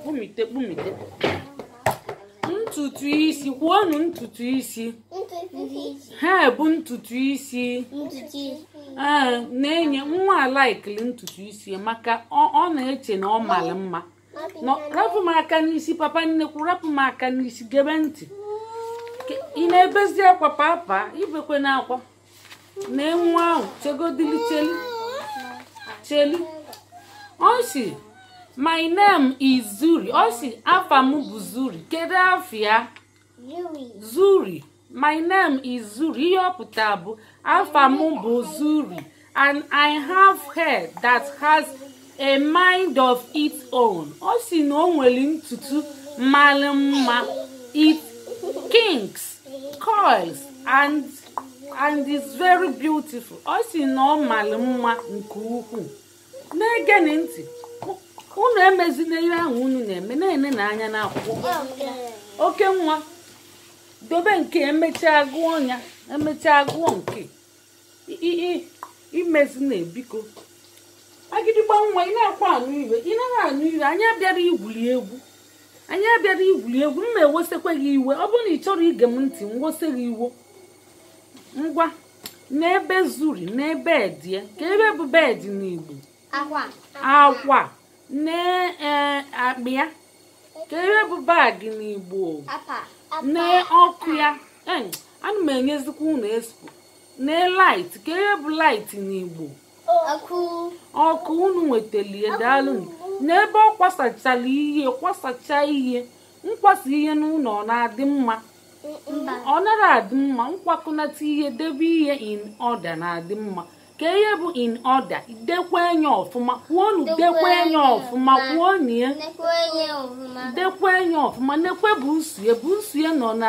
kpumite kpumite ntutu isi kwuonu ntutu isi hair bụ ntutu isi ee na-enye nwa a laikili ntutu isi maka ọ ọ na-eche na ọ mara mma No, rapụ m aka n'isi papa nnekwu rapụ m aka n'isi gebe ntị Ke- ị na-ebezi akwa papa ibekwena akwa na nwa ahụ chegodili chelu chelu ọ sị my name is zuri ọ sị afa m bụ zuri kedu afa ya zuri my name is zuri ihe ọ pụtara bụ afa m bụ zuri and i have hair that has a mind of its own ọ sị na o nwere ntutu mara mma it kinks coils and is very beautiful ọ sị na ọ mara mma nke ukwuu na-egenụ ntị unu emezina ihe ahụ unu na-eme na-enenụ anya n'akwụkwọ oke nwa dobe nke e mechaa a gụọ ya e mechaa a gụọ nke emezina biko agịdịgba nwa ị nakwa anụ ihe ị naghị anụ ihe anyị abịara igwuri egwu anyị abịara igwuri egwu m ma ewesekwa gị iwe ọ bụrụ na ị chọrọ ige m ntị m wese gị iwe ngwa nee be zuri nee bed ye ke ihe bụ bed n'igbo akwa akwa nee ee, akpa ya ke ihe bụ bag n'igbo akpa nee ọkụ ya Em, ana m enyezikwa unu expo nee light ke ihe bụ light n'igbo ọkụ unu nwetalie daalụ nee ebe ọ kwasachara ihe kwasacha ihe nkwasa ihe n'ụlọ ọ na-adị mma ọ nara adị mma nkwakọnata ihe debe ihe in order na-adị mma ke ihe bụ in order dekwa enye ọfụma kwuonu dekwa enye ọfụma kwuonu ya dekwa enye ọfụma nekwe buusu ye buusu ye nọ na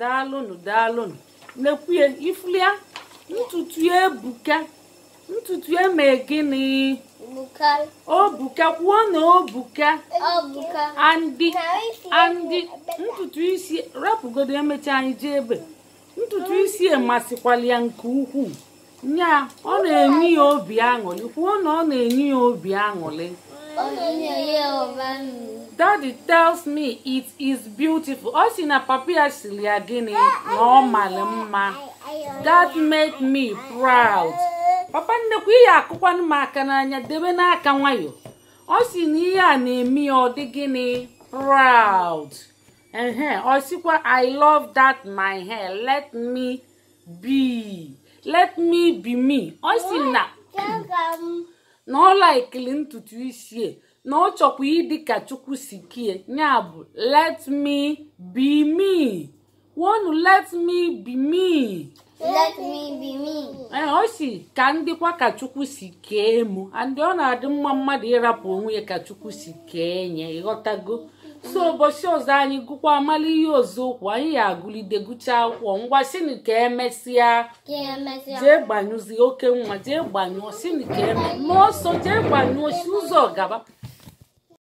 daalụnụ daalụnụ nekwe ye ị fụlị ya ntutu ye ebuka ntutu e mee gịnị o buka kwuo na o buka and and ntutu isi rapụgodo e mecha anyị jee ebe ntutu isi emasịkwala ya nke ukwuu nya ọ na-enye ya obi aṅụrị kwuo na ọ na-enye ya obi aṅụrị daddy tells me it is beautiful ọ sị na papa ya sịrị ya gịnị na ọ mara mma that make me proud papa nnekwu ị ya-akụkwanụ m aka n'anya debenụ aka nwayọ ọ sị na ihe a na-eme ya ọ dị gịnị proud ehe ọ sịkwa i love that my hair let me bi let me be me ọ sị na na ọ laikili ntutu isi e, na ọ chọkwa ịdị ka chukwu si kie ya bụ let me be me wonu let me be me let me be me ee ọ sị ka m dịkwa ka chukwu si kee mụ and ọ na-adị mma mmadụ ịrapụ onwe ya ka chukwu si kee nye ịghọtago so ụbọchị ọzọ anyị gụkwa amalụ ihe ọzọ okwu anyị ya agụlide gụchaa akwụkwọ ngwa sịnụ ka emesịa jee gbanyụzie okay ngwa jee gbanyụọ sịnụ ka eme ma ọsọ jee gbanyụọ si ụzọ gaba